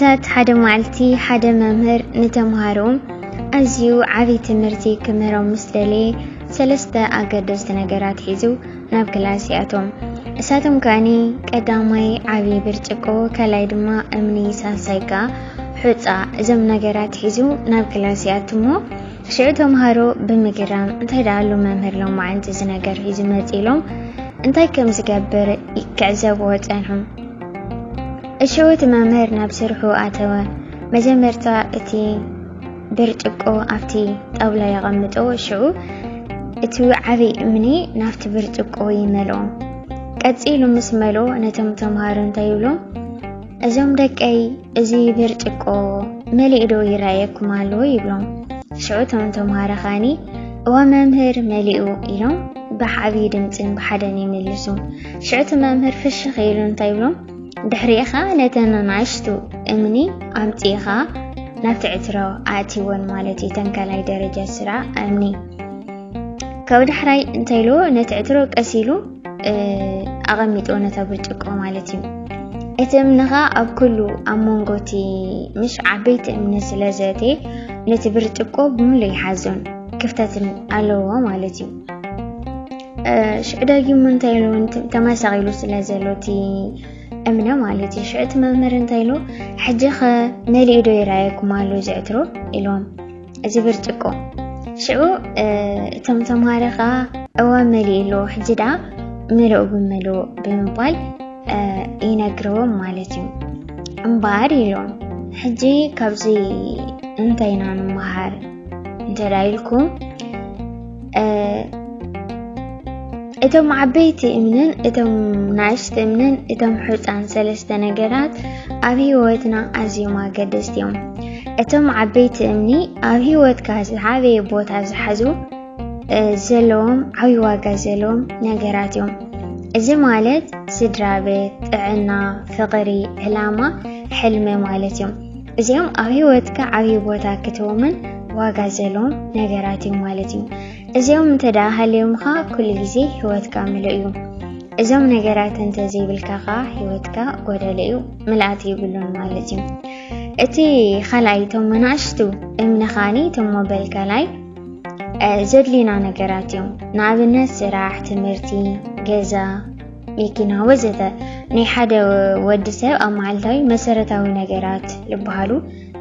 ዕለታት ሓደ መዓልቲ ሓደ መምህር ንተምሃርኡ ኣዝዩ ዓብዪ ትምህርቲ ክምህሮም ምስ ደለየ ሰለስተ ኣገደስቲ ነገራት ሒዙ ናብ ክላስ ይኣቶም። እሳቶም ከኣኒ ቀዳማይ ዓብዪ ብርጭቆ፣ ካልኣይ ድማ እምኒ፣ ሳልሳይ ከኣ ሑፃ እዞም ነገራት ሒዙ ናብ ክላስ ይኣትሞ ሽዑ ተምሃሮ ብምግራም እንታይ ደኣ ኣሉ መምህር ሎማዓንቲ እዚ ነገር ሒዙ መጺ ኢሎም እንታይ ከም ዝገብር ክዕዘብዎ ጸንሑ። እሽዑ እቲ መምህር ናብ ስርሑ ኣተወ። መጀመርታ እቲ ብርጭቆ ኣብቲ ጣውላ የቐምጦ። ሽዑ እቲ ዓብዪ እምኒ ናብቲ ብርጭቆ ይመልኦ። ቀጺሉ ምስ መልኦ ነቶም ተምሃሮ እንታይ ይብሎም? እዞም ደቀይ እዚ ብርጭቆ መሊኡ ዶ ይረኣየኩም ኣሎ ይብሎም ሽዑ እቶም ተምሃሮ ኸዓኒ እወ መምህር መሊኡ ኢሎም ብዓብዪ ድምፅን ብሓደን ይምልሱ ሽዑ እቲ መምህር ፍሽኽ ኢሉ እንታይ ይብሎም ድሕሪኻ ነተን ናእሽቱ እምኒ ኣምፂእኻ ናብቲ ዕትሮ ኣእትወን ማለት እዩ ተንካላይ ደረጃ ስራ እምኒ ካብ ዳሕራይ እንታይ ኢልዎ ነቲ ዕትሮ ቀስ ኢሉ ኣቐሚጥዎ ነታ ብርጭቆ ማለት እዩ እቲ እምንኻ ኣብ ኩሉ ኣብ መንጎ እቲ ምሽ ዓበይቲ እምኒ ስለ ዘተ ነቲ ብርጭቆ ብምሉ ይሓዞን ክፍተትን ኣለዎ ማለት እዩ ሽዑ ዳጊሙ እንታይ ኢሉ ተመሳቂሉ ስለ ዘሎ እቲ እምነ ማለት እዩ ሽዑ እቲ መምህር እንታይ ኢሉ ሕጂ ኸ መሊኡ ዶ ይረኣየኩም ኣሎ ዝዕትሮ ኢሎም እዚ ብርጭቆ ሽዑ እቶም ተምሃሮ ከዓ እወ መሊኡ ኣሎ ሕጂ ደኣ ምልኡ ብምልኡ ብምባል ይነግርዎም ማለት እዩ እምበኣር ኢሎም ሕጂ ካብዚ እንታይ ኢና ንምሃር እንተ ኢልኩም እቶም ዓበይቲ እምንን እቶም ናእሽቲ እምንን እቶም ሕፃን ሰለስተ ነገራት ኣብ ህይወትና ኣዝዮም ኣገደስቲ እዮም። እቶም ዓበይቲ እምኒ ኣብ ህይወትካ ዝዓበየ ቦታ ዝሓዙ ዘለዎም ዓብይ ዋጋ ዘለዎም ነገራት እዮም። እዚ ማለት ስድራ ቤት፣ ጥዕና፣ ፍቕሪ፣ ዕላማ፣ ሕልሚ ማለት እዮም። እዚኦም ኣብ ህይወትካ ዓብዪ ቦታ ክትህቦምን ዋጋ ዘለዎም ነገራት እዮም ማለት እዩ እዚኦም እንተ ደኣ ሃልዮምኻ ኩሉ ግዜ ህይወትካ ምሉእ እዩ እዞም ነገራት እንተ ዘይብልካ ኸዓ ህይወትካ ጎደለ እዩ ምልኣት ይብሉን ማለት እዩ እቲ ካልኣይ እቶም መናእሽቱ እምንኻኒ እቶም ሞበል ካልኣይ ዘድልዩና ነገራት እዮም ንኣብነት ስራሕ ትምህርቲ ገዛ መኪና ወዘተ ናይ ሓደ ወዲ ሰብ ኣብ መዓልታዊ መሰረታዊ ነገራት ዝበሃሉ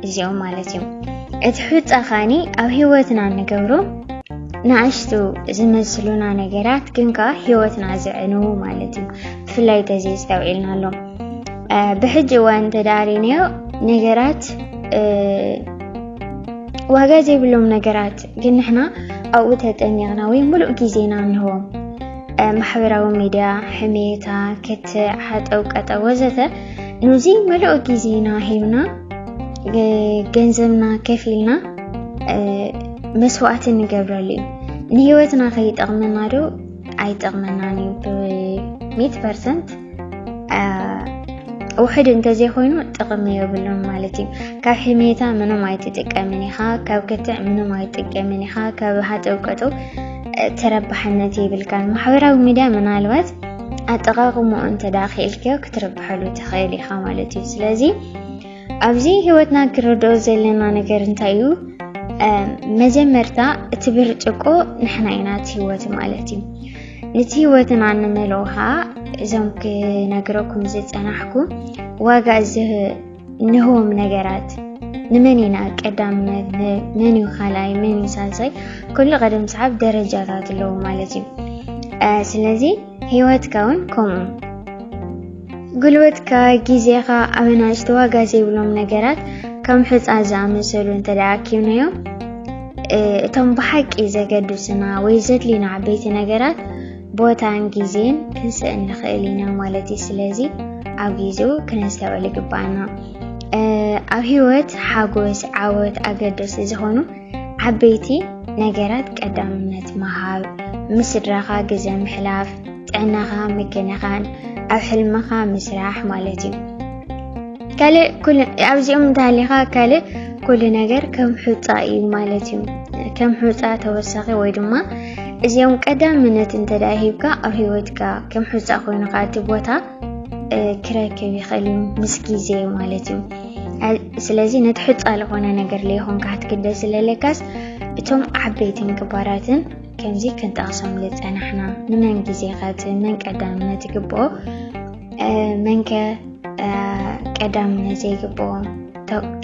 እዚኦም ማለት እዮም እቲ ሕፃ ኸዓኒ ኣብ ህይወትና ንገብሮ ንኣሽቱ ዝመስሉና ነገራት ግን ከዓ ህይወትና ዝዕኑ ማለት እዩ ብፍላይ ተዚ ዝተውዒልና ኣሎ ብሕጂ እዋን ተዳሪንዮ ነገራት ዋጋ ዘይብሎም ነገራት ግን ንሕና ኣብኡ ተጠሚቕና ወይ ሙሉእ ግዜና ንህቦም ማሕበራዊ ሚድያ፣ ሕሜታ፣ ክትዕ፣ ሓጠው ቀጠው ወዘተ ነዚ መለኦ ግዜና ሂብና ገንዘብና ከፊልና መስዋእቲ ንገብረሉ እዩ ንህይወትና ከይጠቕመና ዶ ኣይጠቕመናን እዩ ብሚት ፐርሰንት ውሕድ እንተዘይኮይኑ ጥቕሚ የብሉን ማለት እዩ። ካብ ሕሜታ ምንም ኣይትጥቀምን ኢኻ፣ ካብ ክትዕ ምንም ኣይትጥቀምን ኢኻ፣ ካብ ሃጠውቀጡ ተረባሕነት የብልካን። ማሕበራዊ ሚድያ ምናልባት ኣጠቃቅምኡ እንተዳ ክኢልክዮ ክትርብሐሉ ትኽእል ኢኻ ማለት እዩ። ስለዚ ኣብዚ ህይወትና ክንርድኦ ዘለና ነገር እንታይ እዩ? መጀመርታ እቲ ብርጭቆ ንሕና ኢና እቲ ህይወት ማለት እዩ። ነቲ ህይወትና እንመልኦ ከዓ እዞም ክነግረኩም ዝፀናሕኩ ዋጋ ንህቦም ነገራት ንመን ኢና ቀዳምነት መን እዩ ካልኣይ መን እዩ ሳልሳይ ኩሉ ቀደም ሰዓብ ደረጃታት ኣለዎ ማለት እዩ ስለዚ ህይወትካ እውን ከምኡ ጉልበትካ፣ ግዜኻ ኣብ ኣናእሽቲ ዋጋ ዘይብሎም ነገራት ከም ሑጻ ዝኣመሰሉ እንተደኣ ኣኪብናዮም እቶም ብሓቂ ዘገድሱና ወይ ዘድልዩና ዓበይቲ ነገራት ቦታን ግዜን ክንስእን ንኽእል ኢና ማለት እዩ። ስለዚ ኣብ ግዜኡ ክነስተውዕል ይግባኣና። ኣብ ህይወት ሓጎስ፣ ዓወት ኣገደስቲ ዝኾኑ ዓበይቲ ነገራት ቀዳምነት ምሃብ፣ ምስ ስድራኻ ግዘ ምሕላፍ፣ ጥዕናኻ ምክንኻን፣ ኣብ ሕልምኻ ምስራሕ ማለት እዩ። ካልእ ኩሉ ኣብዚኦም እንተሃሊኻ ካልእ ኩሉ ነገር ከም ሑፃ እዩ ማለት እዩ። ከም ሑፃ ተወሳኺ ወይ ድማ እዚኦም ቀዳምነት እንተደኣ ሂብካ ኣብ ሂወትካ ከም ሑፃ ኮይኑ ከዓ እቲ ቦታ ክረክብ ይኽእል እዩ ምስ ግዜ ማለት እዩ። ስለዚ ነቲ ሕፃ ዝኾነ ነገር ለይኾንካ ክትግደ ስለለካስ እቶም ዓበይትን ግባራትን ከምዚ ክንጠቕሶም ዝፀናሕና ንመን ግዜ ከት መን ቀዳምነት ይግብኦ መንከ ቀዳምነት ዘይግብኦ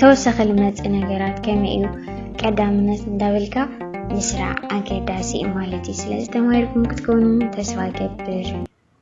ተወሳኺ ልመፅእ ነገራት ከመይ እዩ ቀዳምነት እንዳበልካ ምስራዕ ኣገዳሲ ማለት እዩ ስለዚ ተማሂርኩም ክትከውኑ ተስፋ ገብር